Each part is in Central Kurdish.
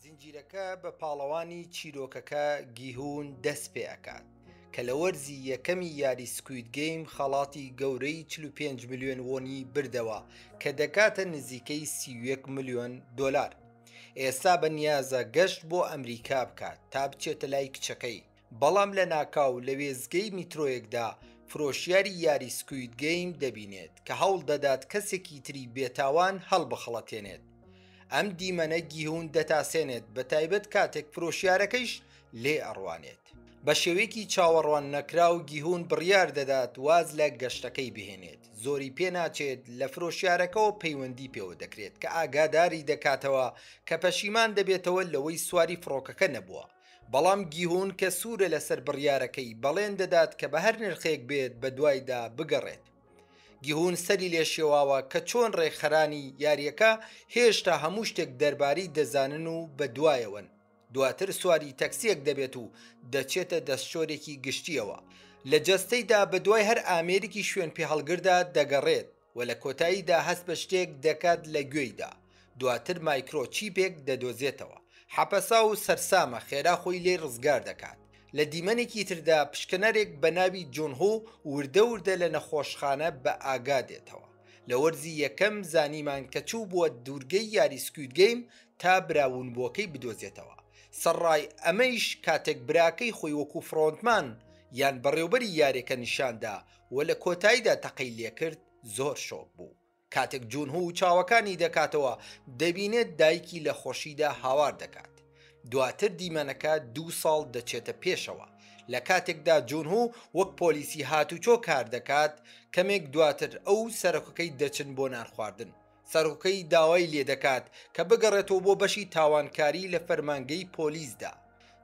زنجیرەکە بە پاڵەوانی چیرۆکەکە گیهون دەست پێ ئەکات کە لە وەرزی یەکەمی یاری سکوید گەیم خەڵاتی گەورەی 45 میلیۆن وۆنی بردەوە کە دەکاتە نزیکەی سیوەک میلیۆن دلار ئێستا بە نیازە گەشت بۆ ئەمریکا بکات تا بچێتە لای کچەکەی بەڵام لەناکاو لە وێستگەی میترۆیەکدا فرۆشیاری یاری سکوید گەیم دەبینێت کە هەوڵ دەدات کەسێکی تری بێتاوان هەڵبخەڵەتێنێت ئەم دیمەنە گیهون دەتاسێنێت بە تایبەت کاتێک فرۆشیارەکەیش لێ ئەڕوانێت بە شێوەیەکی چاوەڕوان نەکراو گیهون بڕیار دەدات واز لە گەشتەکەی بهێنێت زۆری پێناچێت لە فرۆشیارەکەەوە پەیوەندی پێوە دەکرێت کە ئاگاداری دەکاتەوە کە پەشیمان دەبێتەوە لەوەی سواری فڕۆکەکە نەبووە بەڵام گیهون کە سوورە لەسەر بڕیارەکەی بەڵێن دەدات کە بە هەر نرخێک بێت بە دوایدا بگەڕێت گیهون سەری لێ شێواوە کە چۆن ڕێکخەرانی یاریەکە هێشتا هەموو شتێک دەرباری دەزانن و بە دوایەوەن دواتر سواری تەکسیەک دەبێت و دەچێتە دەستشۆرێکی گشتیەوە لە جەستەیدا بە دوای هەر ئامێرێکی شوێن پێ هەڵگردا دەگەڕێت و لە کۆتاییدا هەست بە شتێک دەکات لە گوێیدا، دواتر مایکرۆ چیپێک دەدۆزێتەوە، حەپەساو و سەرسامە خێرا خۆی لێی ڕزگار دەکات، لە دیمەنێکی تردا پشکنەرێک بە ناوی جونهو وردە وردە لە نەخۆشخانە بە ئاگا دێتەوە، لە وەرزی یەکەم زانیمان کە چووبووە دوورگەی یاری سکوید گەیم تا برا ونبووەکەی بدۆزێتەوە، سەرڕای ئەمەیش کاتێک براکەی خۆی وەکو فرۆنتمان یان بەڕێوبەری یارێکە نیشاندا و لە کۆتایدا تەقەی لێکرد زۆر شۆک بوو کاتێک جونهو چاوەکانی دەکاتەوە دەبینێت دایکی لە خۆشیدا هاوار دەکات دواتر دیمەنەکە دوو ساڵ دەچێتە پێشەوە لە کاتێکدا جونهو وەک پۆلیسی هاتوچۆ کاردەکات کەمێک دواتر ئەو سەرکەکەی دەچن بۆ نان خواردن سەرۆکەی داوای لێدەکات کە بگەڕێتەوە بۆ بەشی تاوانکاری لە فەرمانگەی پۆلیسدا.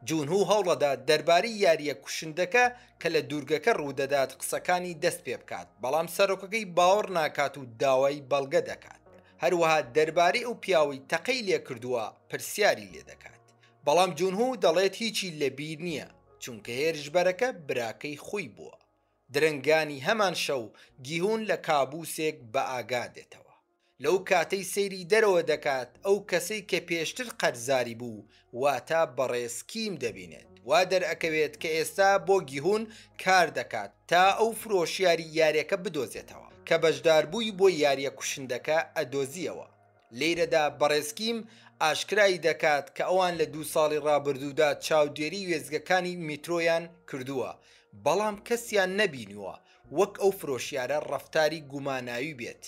جونهو هەوڵەدات دەربارەی یارییە کوشندەکە کە لە دوورگەکە ڕوودەدات قسەکانی دەستپێبکات، بەڵام سەرۆکەکەی باوەڕ ناکات و داوای بەڵگە دەکات. هەروەها دەربارەی ئەو پیاوەی تەقەی لێکردووە پرسیاری لێدەکات، بەڵام جونهو دەڵێت هیچی لەبیر نییە، چونکە هێرشبەرەکە براکەی خۆی بووە. درەنگانی هەمان شەو گیهون لە کابوسێک بە ئاگا دێتەوە، لەو کاتەی سەیری دەرەوە دەکات ئەو کەسەی کە پێشتر قەرزاری بوو واتە بەڕێز کیم دەبینێت، وا دەرئەکەوێت کە ئێستا بۆ گیهون کار دەکات تا ئەو فرۆشیاری یاریەکە بدۆزێتەوە کە بەشداربووی بۆ یاریە کوشندەکە ئەدۆزیەوە. لێرەدا بەڕێز کیم ئاشکرای دەکات کە ئەوان لە دوو ساڵی ڕابردوودا چاودێری وێستگەکانی میترۆیان کردووە، بەڵام کەسیان نەبینیوە وەک ئەو فرۆشیارە ڕەفتاری گوماناوی بێت.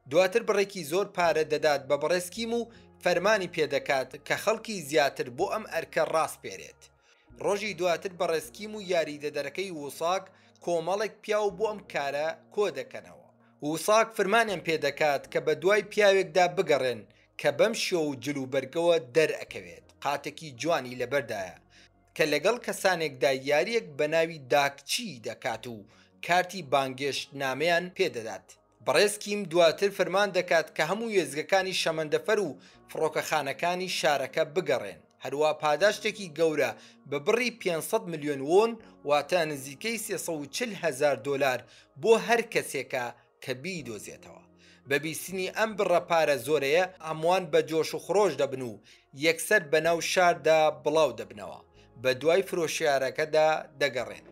دواتر بڕێکی زۆر پارە دەدات بە بەڕێز کیم و فەرمانی پێدەکات کە خەڵکی زیاتر بۆ ئەم ئەرکە ڕاسپێرێت. ڕۆژی دواتر بەڕێز کیم و یاریدەدەرەکەی ووساک کۆمەڵێک پیاو بۆ ئەم کارە کۆدەکەنەوە. ووساک فرمانیان پێدەکات کە بەدوای پیاوێکدا بگەڕێن کە بەم شێوە و جل و بەرگەوە دەرئەکەوێت قاتێکی جوانی لەبەردایە کە لەگەڵ کەسانێکدا یاریەک بەناوی داکچی دەکات و کارتی بانگێشتنامەیان پێدەدات. بەڕێز کیم دواتر فەرمان دەکات کە هەموو وێستگەکانی شەمەندەفەر و فڕۆکەخانەکانی شارەکە بگەڕێن، هەروا پاداشتێکی گەورە بە بڕی پێنج سەد ملیۆن وۆن، واتە نزیکەی سێ سەد و چل هەزار دۆلار بۆ هەر کەسێکە کە بیدۆزێتەوە. بە بیستنی ئەم بڕە پارە زۆرەیە، هەمووان بە جۆش و خرۆش دەبن و یەکسەر بەناو شاردا بڵاو دەبنەوە، بە دوای فرۆشیارەکەدا دەگەڕێت.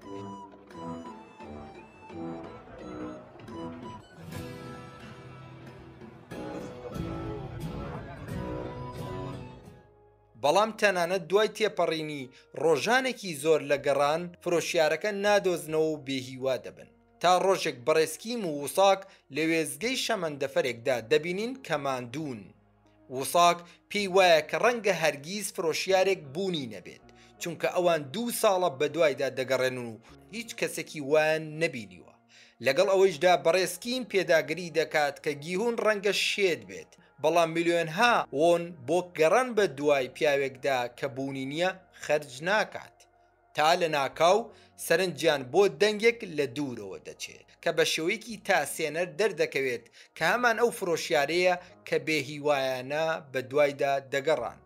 بەڵام تەنانەت دوای تێپەڕینی ڕۆژانێکی زۆر لە گەڕان فرۆشیارەکە نادۆزنەوە و بێهیوا دەبن تا ڕۆژێک بەڕێسکیم و وساک لە وێزگەی شەمەندەفەرێکدا دەبینین کە ماندوون وساک پێی وایە کە ڕەنگە هەرگیز فرۆشیارێک بوونی نەبێت چونکە ئەوان دوو ساڵە بەدوایدا دەگەڕێنن و هیچ کەسێکی وایان نەبینیوە لەگەڵ ئەوەیشدا بەڕێز کیم پێداگری دەکات کە گیهون ڕەنگە شێت بێت بەڵام ملیۆنها وۆن بۆ گەڕان بەدوای پیاوێکدا کە بوونی نییە خەرج ناکات تا لەناکاو سەرنجیان بۆ دەنگێک لە دوورەوە دەچێت کە بە شێوەیەکی تاسێنەر دەردەکەوێت کە هەمان ئەو فرۆشیارەیە کە بێهیوایانە بەدوایدا دەگەڕان.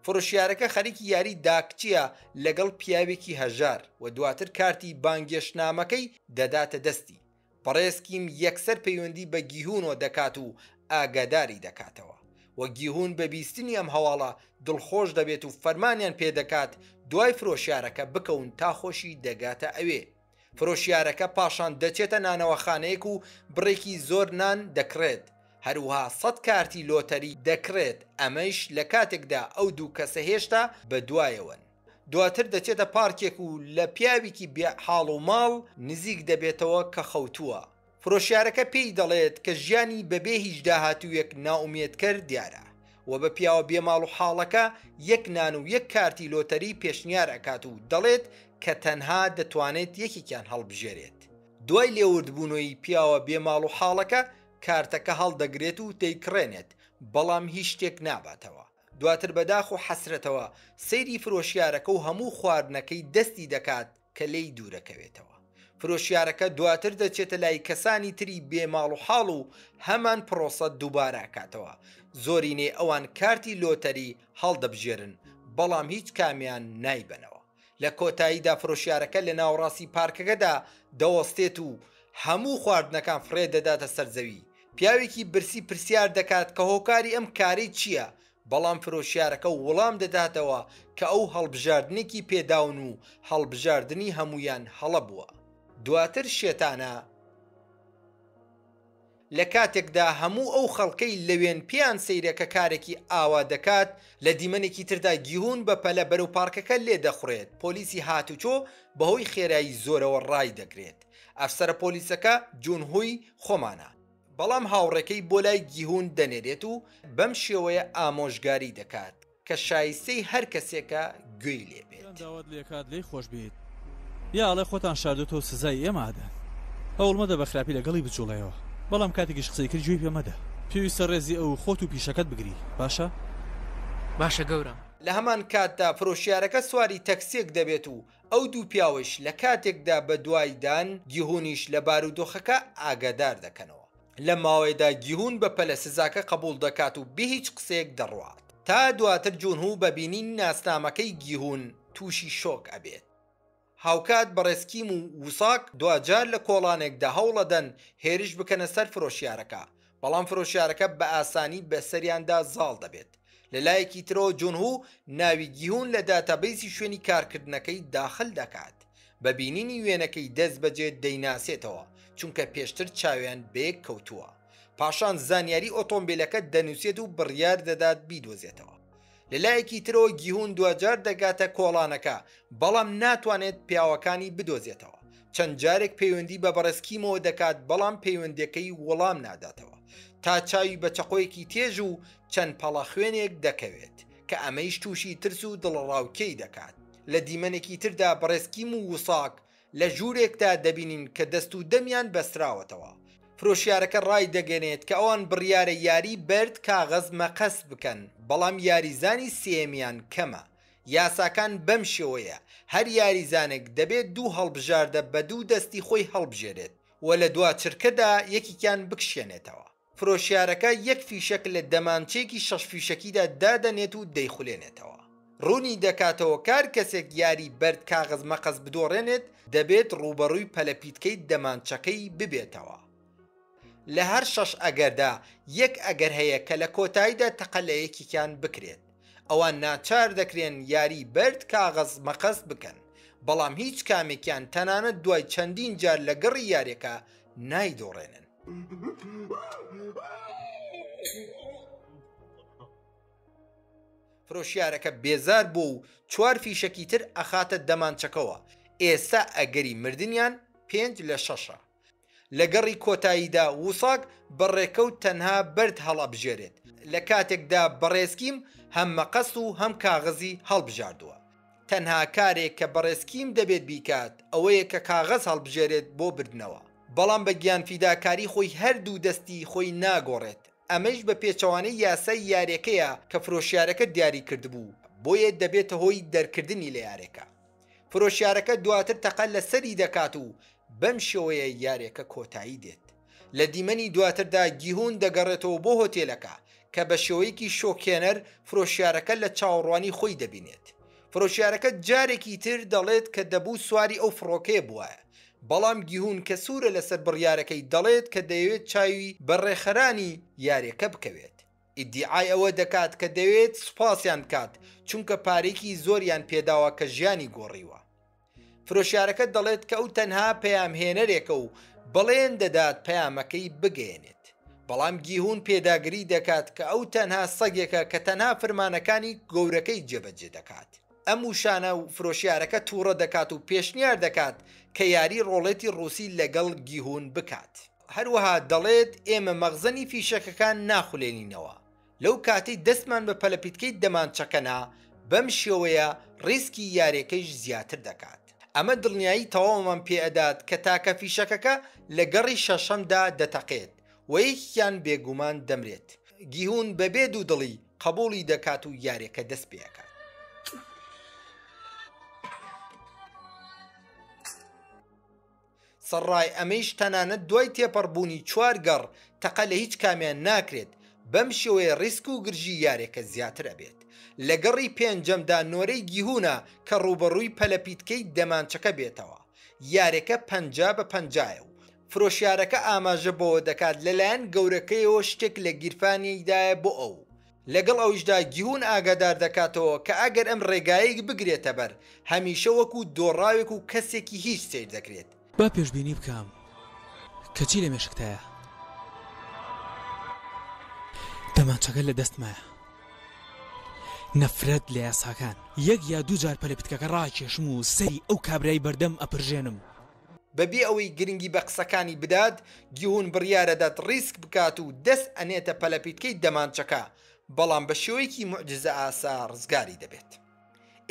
فرۆشیارەکە خەریکی یاری داکچییە لەگەڵ پیاوێکی هەژار و دواتر کارتی بانگێشتنامەکەی دەداتە دەستی. بەڕێز کیم یەکسەر پەیوەندی بە گیهونۆ دەکات و ئاگاداری دەکاتەوە و گیهون بە بیستنی ئەم هەواڵە دڵخۆش دەبێت و فەرمانیان پێدەکات دوای فرۆشیارەکە بکەون تا خۆشی دەگاتە ئەوێ فرۆشیارەکە پاشان دەچێتە نانەوەخانەیەک و بڕێکی زۆر نان دەکڕێت هەروها سەد کارتی لۆتەری دەکڕێت ئەمەیش لە کاتێکدا ئەو دوو کەسە هێشتا بەدوایەوەن. دواتر دەچێتە پارکێک و لە پیاوێکی بێ حاڵ و ماڵ نزیک دەبێتەوە کە خەوتووە. فرۆشیارەکە پێی دەڵێت کە ژیانی بەبێ هیچ داهاتوویەک نائومێدکەر دیارە و بە پیاوە بێ ماڵ و حاڵەکە یەک نان و یەک کارتی لۆتەری پێشنیار ئەکات و دەڵێت کە تەنها دەتوانێت یەکێکیان هەڵبژێرێت. دوای لێوردبوونەوەی پیاوە بێ ماڵ و حاڵەکە کارتەکە هەڵدەگرێت و دەیکڕێنێت، بەڵام هیچ شتێک ناباتەوە. دواتر بە داخ و حەسرەتەوە سەیری فرۆشیارەکە و هەموو خواردنەکەی دەستی دەکات کە لێی دوورەکەوێتەوە. فرۆشیارەکە دواتر دەچێتە لای کەسانی تری بێ ماڵ و حاڵ و هەمان پرۆسە دووبارە ئەکاتەوە. زۆرینەی ئەوان کارتی لۆتەری هەڵدەبژێرن بەڵام هیچ کامیان نایبەنەوە. لە کۆتاییدا فرۆشیارەکە لە ناوەڕاستی پارکەکەدا دەوەستێت و هەموو خواردنەکان فڕێ دەداتە سەر زەوی. پیاوێکی برسی پرسیار دەکات کە هۆکاری ئەم کارەی چییە، بەڵام فرۆشیارەکە وڵام دەداتەوە کە ئەو هەڵبژاردنێکی پێ داون و هەڵبژاردنی هەموویان هەڵە بووە. دواتر شێتانە. لە کاتێکدا هەموو ئەو خەڵکەی لەوێن پێیان سەیرە کە کارێکی ئاوا دەکات، لە دیمەنێکی تردا گیهون بە پەلە بەرەو پارکەکە لێدەخوڕێت، پۆلیسی هاتوچۆ بەهۆی خێرایی زۆرەوە ڕایدەگرێت. ئەفسەرە پۆلیسەکە جونهوی خۆمانە، بەڵام هاوڕێکەی بۆ لای گیهون دەنێرێت و بەم شێوەیە ئامۆژگاری دەکات. کە شایستەی هەر کەسێکە گوێی لێ بێت. یان داوات لێ کات لێی خۆش بیت یا ئەڵێ خۆتان شاردۆتەو سزای ئێمە ئەدەن هەوڵ مەدە بە خراپی لە گەڵی بجوڵێیەوە بەڵام کاتێکیش قسەی کرد گوێی پێ مەدە پێویستە ڕێزی ئەو و خۆت و پیشەکەت بگری باشە باشە گەورەم. لە هەمان کاتدا فرۆشیارەکە سواری تەکسیەک دەبێت و ئەو دوو پیاوەیش لە کاتێکدا بە دوای دان، گیهونیش لە بارودۆخەکە ئاگادار دەکەنەوە. لەم ماوەیەدا گیهون بە پەلە سزاکە قەبووڵ دەکات و بێ هیچ قسەیەک دەڕوات، تا دواتر جونهو بە بینینی ناسنامەکەی گیهون تووشی شۆک ئەبێت. هاوکات بەڕێز کیم و ووساک دواجار لە کۆڵانێکدا هەوڵئەدەن هێرش بکەنە سەر فرۆشیارەکە، بەڵام فرۆشیارەکە بە ئاسانی بەسەریاندا زاڵ دەبێت. لەلایەکی ترەوە جۆنهو ناوی گیهون لە داتابەیسی شوێنی کارکردنەکەی داخل دەکات بە بینینی وێنەکەی دەست بەجێ دەیناسێتەوە چونکە پێشتر چاویان بەیەک کەوتووە پاشان زانیاری ئۆتۆمبیلەکە دەنووسێت و بڕیار دەدات بیدۆزێتەوە لەلایەکی ترەوە گیهون دواجار دەگاتە کۆڵانەکە بەڵام ناتوانێت پیاوەکانی بدۆزێتەوە چەند جارێک پەیوەندی بە بەڕێز کیمەوە دەکات بەڵام پەیوەندەکەی وەڵام ناداتەوە تا چاوی بە چەقۆیەکی تێژ و چەند پەڵە خوێنێک دەکەوێت کە ئەمەیش تووشی ترس و دڵڕاوکێی دەکات لە دیمەنێکی تردا بەڕێز کیم و وساک لە ژوورێکدا دەبینین کە دەست و دەمیان بەستراوەتەوە فرۆشیارەکە ڕای دەگەنێت کە ئەوان بڕیارە یاری بەرد کاغەز مەقەست بکەن بەڵام یاریزانی سێیەمیان کەمە یاساکان بەم شێوەیە، هەر یاریزانێک دەبێت دوو هەڵبژاردە بە دوو دەستی خۆی هەڵبژێرێت و لە دوا چرکەدا یەکێکیان بکشێنێتەوە. فرۆشیارەکە یەک فیشەک لە دەمانچەیەکی شەش فیشەکیدا دادەنێت و دەیخولێنێتەوە. ڕوونی دەکاتەوە کار کەسێک یاری بەرد کاغەز مەقەس بدۆڕێنێت دەبێت ڕووبەڕووی پەلەپیتکەی دەمانچەکەی ببێتەوە. لە هەر شەش ئەگەردا یەک ئەگەر هەیە کە لە کۆتاییدا تەقە لە یەکێکیان بکرێت. ئەوان ناچار دەکرێن یاری بەرد کاغەز مەقەست بکەن، بەڵام هیچ کامێکیان تەنانەت دوای چەندین جار لە گەڕی یاریەکە نایدۆڕێنن. فرۆشیارەکە بێزار بوو و چوار فیشەکی تر ئەخاتە دەمانچەکەوە، ئێستا ئەگەری مردنیان پێنج لە شەشە. لە گەڕی کۆتاییدا وساک بە ڕێکەوت تەنها بەرد هەڵئەبژێرێت، لە کاتێکدا بەڕێزکیم هەم مەقەست و هەم کاغەزی هەڵبژاردووە. تەنها کارێک کە بەڕێزکیم دەبێت بیکات ئەوەیە کە کاغەز هەڵبژێرێت بۆ بردنەوە. بەڵام بە گیانفیداکاری خۆی هەردوو دەستی خۆی ناگۆڕێت، ئەمەیش بە پێچەوانەی یاسای یارێکەیە کە فرۆشیارەکە دیاری کردبوو، بۆیە دەبێتە هۆی دەرکردنی لە یارێکە. فرۆشیارەکە دواتر تەقە لە سەری دەکات و بەم شێوەیە یاریەکە کۆتایی دێت لە دیمەنی دواتردا گیهون دەگەڕێتەوە بۆ هۆتێلەکە کە بە شێوەیەکی شۆکێنەر فرۆشیارەکە لە چاوەڕوانی خۆی دەبینێت فرۆشیارەکە جارێکی تر دەڵێت کە دەبوو سواری ئەو فڕۆکەیە بواە بەڵام گیهون کە سوورە لەسەر بڕیارەکەی دەڵێت کە دەیەوێت چاوی بە ڕێخەرانی یاریەکە بکەوێت ئیدیعای ئەوە دەکات کە دەیەوێت سوپاسیان بکات چونکە پارەیەکی زۆریان پێداوە کە ژیانی گۆڕیوە. فرۆشیارەکە دەڵێت کە ئەو تەنها پەیامهێنەرێکە و بەڵێن دەدات پەیامەکەی بگەیەنێت، بەڵام گیهون پێداگری دەکات کە ئەو تەنها سەگێکە کە تەنها فرمانەکانی گەورەکەی جێبەجێ دەکات. ئەم وشانە فرۆشیارەکە تووڕە دەکات و پێشنیار دەکات کە یاری ڕۆڵێتی ڕووسی لەگەڵ گیهون بکات. هەروەها دەڵێت، ئێمە مەخزەنی فیشەکەکان ناخولێنینەوە، لەو کاتەی دەستمان بە پەلەپیتکەی دەمانچەکە نا، بەم شێوەیە ڕیسکی یارێکەیش زیاتر دەکات. ئەمە دڵنیایی تەواومان پێئەدات کە تاکە فیشەکەکە لە گەڕی شەشەمدا دەتەقێت و یەکێکیان بێگومان دەمرێت. گیهون بەبێ دوودڵی قبوڵی دەکات و یاریەکە دەستپێئەکات. سەڕای ئەمەیش تەنانەت دوای تێپەڕبوونی چوار گەڕ تەقە لە هیچ کامیان ناکرێت، بەم شێوەیە ڕیسک و گرژی یارێکە زیاتر ئەبێت. لە گەڕی پێنجەمدا نۆرەی گیهونە کە ڕووبەڕووی پەلەپیتکەی دەمانچەکە بێتەوە. یارێکە پەنجا بە پەنجایە و فرۆشیارەکە ئاماژە بەوە دەکات لەلایەن گەورەکەیەوە شتێک لە گیرفانیدایە بۆ ئەو. لەگەڵ ئەویشدا گیون ئاگادار دەکاتەوە کە ئەگەر ئەم ڕێگایەی بگرێتە بەر، هەمیشە وەکو دۆڕاوێک و کەسێکی هیچ سەیر دەکرێت. با پێشبینی بکەم کە چی لە مێشکتایە. دەمانچەکە لە دەستمایە. نەفرەت لە یاساکان. یەک یا دوو جار پەلە پتکەکە ڕاکێشم و سەری ئەو کابرای بەردەم ئەپرژێنم. بەبێ ئەوەی گرنگی بە قسەکانی بدات، گیهون بڕیارەدات ڕیسک بکات و دەست ئەنێتە پەلەپیتکەی دەمانچەکە، بەڵام بە شێوەیەکی موعجزەئاسا ڕزگاری دەبێت.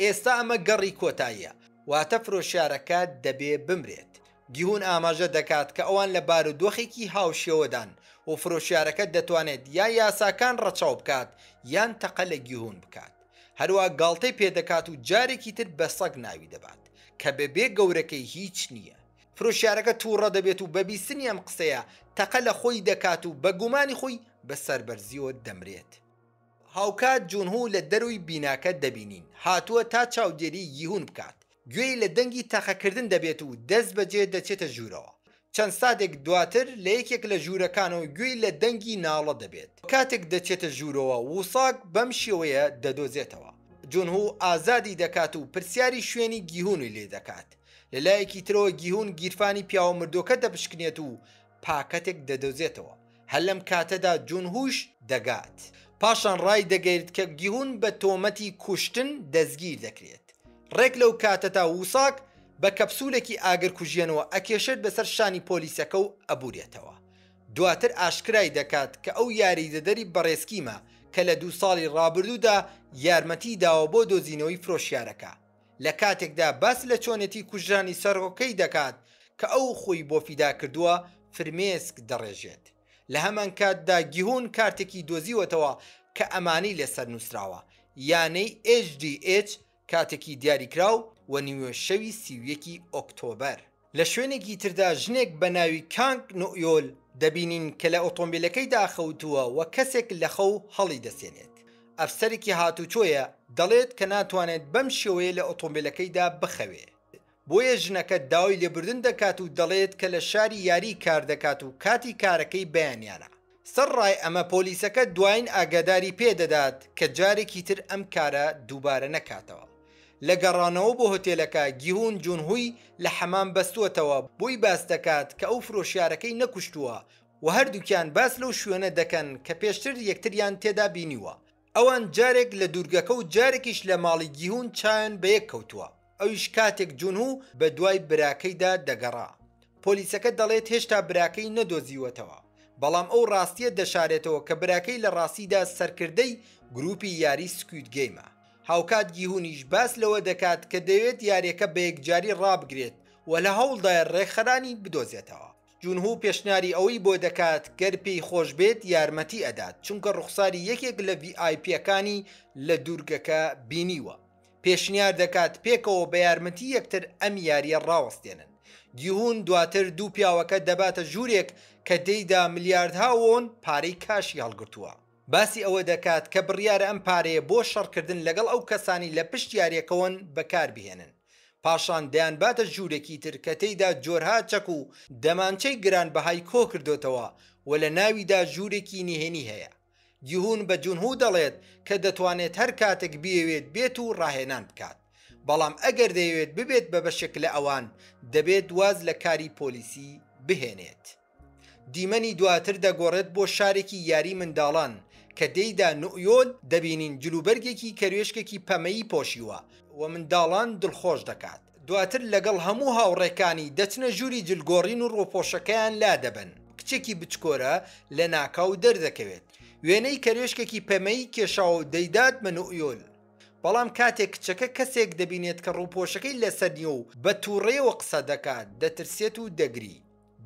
ئێستا ئەمە گەڕی کۆتاییە، واتە فرۆشیارەکە دەبێ بمرێت. گیهون ئاماژە دەکات کە ئەوان لە بارودۆخێکی هاوشێوەدان و فرۆشیارەکە دەتوانێت یا یاساکان ڕەچاو بکات یان تەقە لە گیهون بکات. هەروا گاڵتەی پێدەکات و جارێکی تر بە سەگ ناوی دەبات کە بەبێ گەورەکەی هیچ نییە. فرۆشیارەکە تووڕە دەبێت و بە بیستنی ئەم قسەیە تەقە لە خۆی دەکات و بە گومانی خۆی بە سەربەرزییەوە دەمرێت. هاوکات جونهو لە دەرووی بیناکە دەبینین هاتووە تا چاودێریی ییهون بکات، گوێی لە دەنگی تەقەکردن دەبێت و دەستبەجێ دەچێتە ژوورەوە. چەند ساتێک دواتر لە یەکێک لە ژوورەکانەوە گوێی لە دەنگی ناڵە دەبێت. کاتێک دەچێتە ژوورەوە، ووساک بەم شێوەیە دەدۆزێتەوە. جونهو ئازادی دەکات و پرسیاری شوێنی گیهونی لێدەکات. لە لایەکی ترەوە گیهون گیرفانی پیاوە مردووەکە دەپشکنێت و پاکەتێک دەدۆزێتەوە، هەر لەم کاتەدا جونهوش دەگات، پاشان ڕایدەگەیرت کە گیهون بە تۆمەتی کوشتن دەستگیر دەکرێت، ڕێک لەو کاتەدا ووساک بە کەپسولێکی ئاگرکوژێنەوە ئەکێشێت بەسەر شانی پۆلیسەکە و ئەبورێتەوە، دواتر ئاشکرای دەکات کە ئەو یاریدەدەری بەڕێز کیمە کە لە دوو ساڵی ڕابردوودا یارمەتی داوە بۆ دۆزینەوەی فرۆشیارەکە، لە کاتێکدا باس لە چۆنێتی کوژرانی سەرۆکەی دەکات کە ئەو خۆی بۆ فیدا کردووە، فرمێسک دەڕێژێت. لە هەمانکاتدا گیهون کارتێکی دۆزیوەتەوە کە ئەمانەی لەسەر نووسراوە، یانەی ئێچ دی ئێچ کاتێکی دیاریکراو و نیوەشەوی سی و یەکی ئۆکتۆبەر. لە شوێنێکی تردا ژنێک بە ناوی کانگ نوئیۆل دەبینین کە لە ئۆتۆمبیلەکەیدا خەوتووە و کەسێک لە خەو هەڵیدەسێنێت. ئەفسەرێکی هاتووچۆیە، دەڵێت کە ناتوانێت بەم شێوەیە لە ئۆتۆمبیلەکەیدا بخەوێت، بۆیە ژنەکە داوای لێبوردن دەکات و دەڵێت کە لە شاری یاری کار دەکات و کاتی کارەکەی بەیانیانە. سەرڕای ئەمە پۆلیسەکە دواین ئاگاداری پێ دەدات کە جارێکی تر ئەم کارە دووبارە نەکاتەوە. لە گەڕانەوە بۆ هۆتێلەکە گیهون جونهوی لە حەمام بەستووەتەوە بۆی باس دەکات کە ئەو فرۆشیارەکەی نەکوشتووە و هەردووکیان باس لەو شوێنە دەکەن کە پێشتر یەکتریان تێدا بینیوە ئەوان جارێک لە دوورگەکە و جارێکیش لە ماڵی گیهوون چاویان بە یەک کەوتووە، ئەویش کاتێک جونهو بە دوای براکەیدا دەگەڕا. پۆلیسەکە دەڵێت هێشتا براکەی نەدۆزیوەتەوە، بەڵام ئەو ڕاستییە دەشارێتەوە کە براکەی لە ڕاستیدا سەرکردەی گرووپی یاری سکوید گەیمە. هاوکات گیهوونیش باس لەوە دەکات کە دەیەوێت یارییەکە بە یەکجاری ڕابگرێت و لە هەوڵدایە ڕێکخەرانی بدۆزێتەوە. جونهو پێشنیاری ئەوەی بۆ دەکات گەر پێی خۆش بێت یارمەتی ئەدات چونکە ڕوخساری یەکێک لە ڤی ئای پیەکانی لە دوورگەکە بینیوە پێشنیار دەکات پێکەوە بە یارمەتی یەکتر ئەم یاریە ڕاوەستێنن گیهون دواتر دوو پیاوەکە دەباتە ژورێک کە تێیدا ملیاردها وۆن پارەی کاشی هەڵگرتووە باسی ئەوە دەکات کە بڕیارە ئەم پارەیە بۆ شەڕکردن لەگەڵ ئەو کەسانەی لە پشت یاریەکەوەن بەکاربهێنن. پاشان دەیانباتە ژوورێکی تر کە تێیدا جۆرها چەک و دەمانچەی گرانبەهای کۆ کردۆتەوە و لە ناویدا ژوورێکی نهێنی هەیە. گیهون بە جونهو دەڵێت کە دەتوانێت هەر کاتێک بیەوێت بێت و ڕاهێنان بکات، بەڵام ئەگەر دەیەوێت ببێت بە بەشێک لە ئەوان، دەبێت واز لە کاری پۆلیسی بهێنێت. دیمەنی دواتر دەگۆڕێت بۆ شارێکی یاری منداڵان کە تێیدا نوئیۆل دەبینین جلوبەرگێکی کەروێشکێکی پەمەیی پۆشیوە و منداڵان دڵخۆش دەکات، دواتر لەگەڵ هەموو هاوڕێکانی دەچنە ژووری جلگۆڕین و ڕووپۆشەکەیان لادەبەن، کچێکی بچکۆرە لەناکاو دەردەکەوێت وێنەی کەروێشکێکی پەمەیی کێشاوە و دەیدات بە نوئیۆل، بەڵام کاتێک کچەکە کەسێک دەبینێت کە ڕووپۆشەکەی لەسەر نییە و بە توڕەیەوە قسە دەکات دەترسێت و دەگری.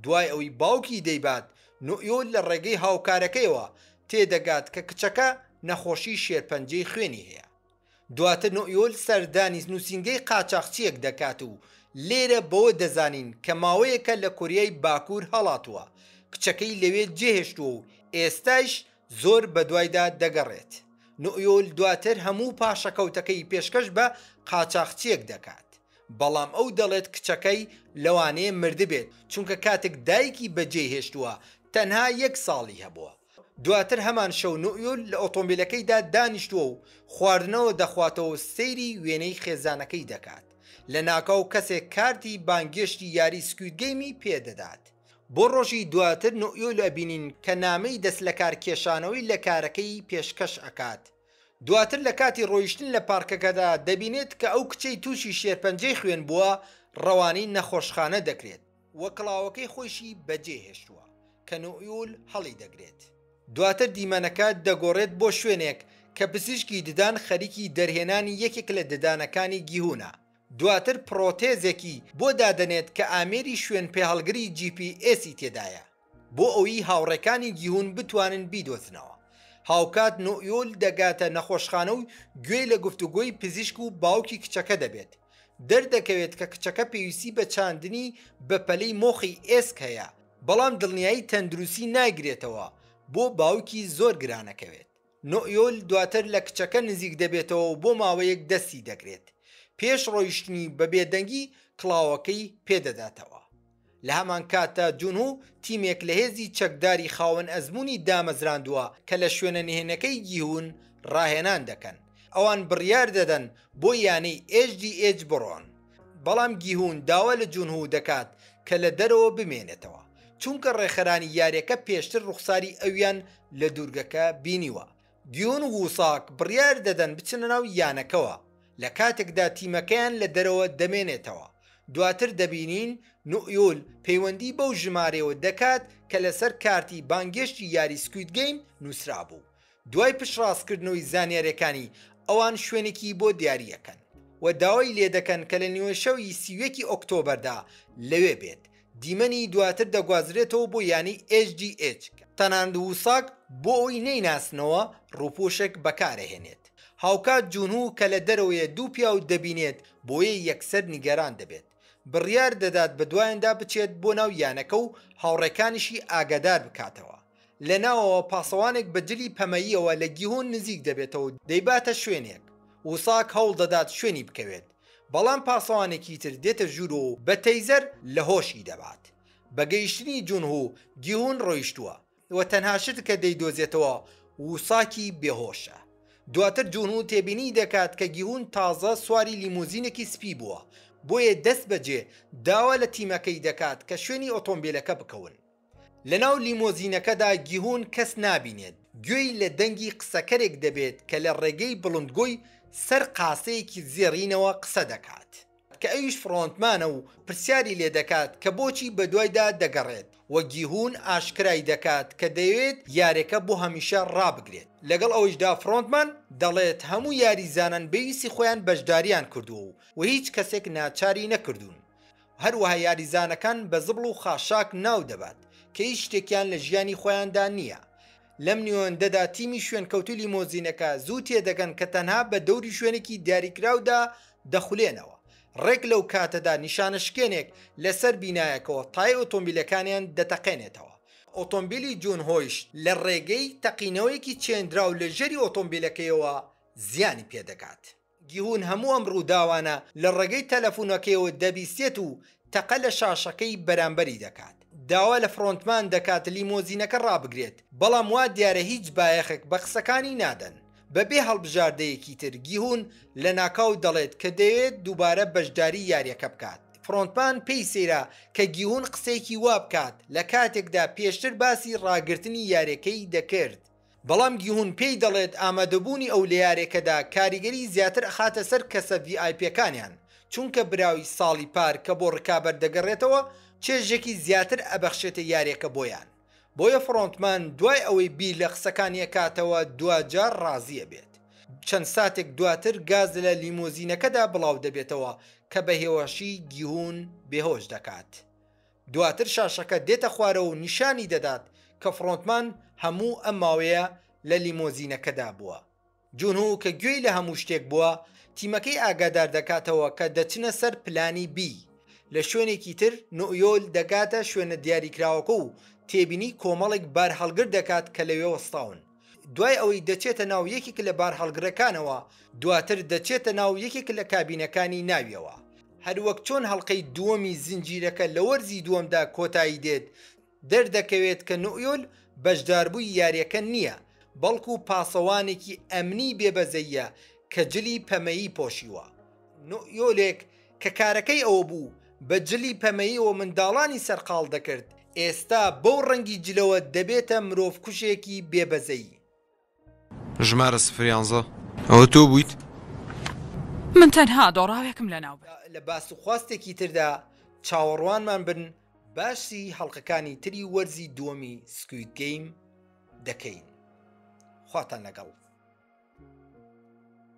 دوای ئەوەی باوکی دەیبات، نوئیۆ لە ڕێگەی هاوکارەکەیەوە تێدەگات کە کچەکە نەخۆشی شێرپەنجەی خوێنی هەیە. دواتر نوئیۆ سەردانی نووسینگەی قاچاخچییەک دەکات و لێرە بەوە دەزانین کە ماوەیەکە لە کۆریای باکوور هەڵاتووە، کچەکەی لەوێ جێهێشتووە و ئێستایش زۆر بەدوایدا دەگەڕێت. نوئیۆ دواتر هەموو پاشەکەوتەکەی پێشکەش بە قاچاخچییەک دەکات. بەڵام ئەو دەڵێت کچەکەی لەوانەیە مردبێت، چونکە کاتێک دایکی بەجێی هێشتووە تەنها یەک ساڵی هەبووە. دواتر هەمان شەو نوئیول لە ئۆتۆمبیلەکەیدا دانیشتووە و خواردنەوە دەخواتەوە و سەیری وێنەی خێزانەکەی دەکات. لەناکاو کەسێک کارتی بانگێشتی یاری سکوید گەیمی پێدەدات. بۆ ڕۆژی دواتر نوئیول ئەبینین کە نامەی دەستلەکارکێشانەوەی لە کارەکەی پێشکەش ئەکات. دواتر لە کاتی ڕۆیشتن لە پارکەکەدا دەبینێت کە ئەو کچەی تووشی شێرپەنجەی خوێن بووە ڕەوانەی نەخۆشخانە دەکرێت و کڵاوەکەی خۆیشی بەجێ هێشتووە کە نوئیول هەڵی دەگرێت. دواتر دیمەنەکە دەگۆڕێت بۆ شوێنێک کە پزیشکی ددان خەریکی دەرهێنانی یەکێک لە ددانەکانی گیهونە، دواتر پڕۆتێزێکی بۆ دادەنێت کە ئامێری شوێنپێهەڵگری جی پی ئێسی تێدایە. بۆ ئەویی هاوڕێکانی جیهون بتوانن بیدۆزنەوە. هاوکات نوئیۆل دەگاتە نەخۆشخانە و گوێی لە گفتوگۆی پزیشک و باوکی کچەکە دەبێت. دەردەکەوێت کە کچەکە پێویستی بە چاندنی بەپەلەی مۆخی ئێسک هەیە، بەڵام دڵنیایی تەندروستی ناگرێتەوە بۆ باوکی زۆر گرانەکەوێت. نوئیۆل دواتر لە کچەکە نزیک دەبێتەوە و بۆ ماوەیەک دەستی دەگرێت، پێش ڕۆیشتنی بە بێدەنگی کڵاوەکەی پێدەداتەوە. لە هەمانکاتدا جونهو تیمێک لە هێزی چەکداری خاوەن ئەزموونی دامەزراندووە کە لە شوێنە نهێنەکەی گیهون ڕاهێنان دەکەن، ئەوان بڕیار دەدەن بۆ یانەی ئێچ دی ئێچ بڕۆن. بەڵام گیهون داوا لە جونهو دەکات کە لە دەرەوە بمێنێتەوە، چونکە ڕێکخەرانی یاریەکە پێشتر ڕوخساری ئەویان لە دوورگەکە بینیوە. گیون و ساک بڕیار دەدەن بچنە ناو یانەکەوە، لە کاتێکدا تیمەکەیان لە دەرەوە دەمێنێتەوە. دواتر دەبینین نوئیول پەیوەندی بەو ژمارەیەوە دەکات کە لەسەر کارتی بانگێشتی یاری سکوید گەیم نوسرابوو، دوای پشتڕاستکردنەوەی زانیارییەکانی ئەوان شوێنێکی بۆ دیارییەکەن و داوای لێدەکەن کە لە نیوەشەوی سی و یەکی ئۆکتۆبەردا لەوێ بێت، دیمەنی دواتر دەگوازرێتەوە بۆ یانەی ئێچ دی ئێچ، تەنانەت وساک بۆ ئەوەی نەیناسنەوە رووپۆشێک بەکارەهێنێت، هاوکات جونهو کە لە دەرەوەیە دوو پیاو دەبینێت بۆیە یەکسەر نیگەران دەبێت، بڕیاردەدات بەدوایاندا بچێت بۆ ناو یانەکە و هاوڕێکانیشی ئاگاداربکاتەوە. لە ناوەوە پاسەوانێک بە جلی پەمەییەوە لە گیهۆن نزیک دەبێتەوە و دەیباتە شوێنێک. وساک هەوڵ دەدات شوێنی بکەوێت، بەڵام پاسەوانێکی تر دێتە ژوور و بە تەیزەر لە هۆشی دەبات. بە گەیشتنی جونهو، گیهۆن ڕۆیشتووە و تەنها شت کە دەیدۆزێتەوە وساکی بێهۆشە. دواتر جونهو تێبینی دەکات کە گیهۆن تازە سواری لیمۆزینێکی سپی بووە، بۆیە دەستبەجێ داوا لە تیمەکەی دەکات کە شوێنی ئۆتۆمبێلەکە بکەون. لەناو لیمۆزینەکەدا گیهون کەس نابینێت، گوێی لە دەنگی قسەکەرێک دەبێت کە لە ڕێگەی بڵندگۆی سەر قاسەیەکی زێڕینەوە قسە دەکات، کە ئەویش فڕۆنتمانە و پرسیاری لێ دەکات کە بۆچی بەدوایدا دەگەڕێت و گیهون ئاشکرای دەکات کە دەیەوێت یارێکە بۆ هەمیشە ڕابگرێت. لەگەڵ ئەوەیشدا فڕۆنتمان دەڵێت هەموو یاریزانان بەویستی خۆیان بەشدارییان کردووە و هیچ کەسێک ناچاری نەکردوون هەروەها یاریزانەکان بە زبڵ و خاشاک ناو دەبات کە هیچ شتێکیان لە ژیانی خۆیاندا نییە. لەم نێوەندەدا تیمی شوێنکەوتوو لیمۆزینەکە زوو تێدەگەن کە تەنها بە دەوری شوێنێکی دیاریکراودا دەخولێنەوە، ڕێک لەو کاتەدا نیشانەشکێنێک لەسەر بینایەکەوە تای ئۆتۆمبیلەکانیان دەتەقێنێتەوە. ئۆتۆمبیلی جون هۆیشت لە ڕێگەی تەقینەوەیەکی چێندراو لە ژێری ئۆتۆمبیلەکەیەوە زیانی پێدەگات. گیهون هەموو ئەم ڕووداوانە لە ڕێگەی تەلەفونەکەیەوە دەبیستێت و تەقە لە شاشەکەی بەرامبەری دەکات. داوا لە فرۆنتمان دەکات لیمۆزینەکە ڕابگرێت، بەڵام وا دیارە هیچ بایەخێک بە قسەکانی نادەن. بەبێ هەڵبژاردەیەکی تر، گیهون لەناکاو دەڵێت کە دەیەوێت دووبارە بەشداری یارییەکە بکات. فرۆنتمان پێی سەیرە کە گیهون قسەیەکی وا بکات، لە کاتێکدا پێشتر باسی ڕاگرتنی یارییەکەی دەکرد. بەڵام گیهون پێی دەڵێت ئامادەبوونی ئەو لە یارێکەدا کاریگەری زیاتر ئەخاتە سەر کەسە ڤی ئای پێکانیان، چونکە براوی ساڵی پار کە بۆ رکابەر دەگەڕێتەوە چێژێکی زیاتر ئەبەخشێتە یارێکە بۆیان، بۆیە فرۆنتمان دوای ئەوەی بیر لە قسەکانی ئەکاتەوە دواجار رازی ئەبێت. چەند ساتێک دواتر گاز لە لیمۆزینەکەدا بڵاودەبێتەوە کە بە هێواشی گیهون بێهۆش دەکات. دواتر شاشەکە دێتە خوارەوە و نیشانی دەدات کە فڕۆنتمان هەموو ئەم ماوەیە لە لیمۆزینەکەدا بووە. جونهو کە گوێی لە هەموو شتێک بووە، تیمەکەی ئاگادار دەکاتەوە کە دەچنە سەر پلانی بی. لە شوێنێکی تر، نوئیۆل دەگاتە شوێنە دیاریکراوەکە و تێبینی کۆمەڵێک بارهەڵگر دەکات کە لەوێ وەستاون. دوای ئەوەی دەچێتە ناو یەکێک لە بارهەڵگرەکانەوە، دواتر دەچێتە ناو یەکێک لە کابینەکانی ناویەوە. هەروەک چۆن هەڵقەی دووەمی زنجیرەکە لە وەرزی دووەمدا کۆتایی دێت، دەردەکەوێت کە نوئیۆل بەشداربووی یارییەکە نییە، بەڵکو پاسەوانێکی ئەمنی بێبەزەییە کە جلی پەمەیی پۆشیوە. نوئیۆلێک کە کارەکەی ئەوە بوو بە جلی پەمەییەوە منداڵانی سەرقاڵ دەکرد، ئێستا بەو ڕەنگی جلەوە دەبێتە مرۆڤکوژێکی بێ بەزەیی. ژمارە سفر یانزە، ئەوە تۆ بوویت؟ من تەنها دۆڕاوێکم لەناو برد. با لە باسوخواستێکی تردا چاوەڕوانمان بن، باسی هەڵقەکانی تری وەرزی دووەمی سکوید گەیم دەکەین. خواتان لەگەڵ.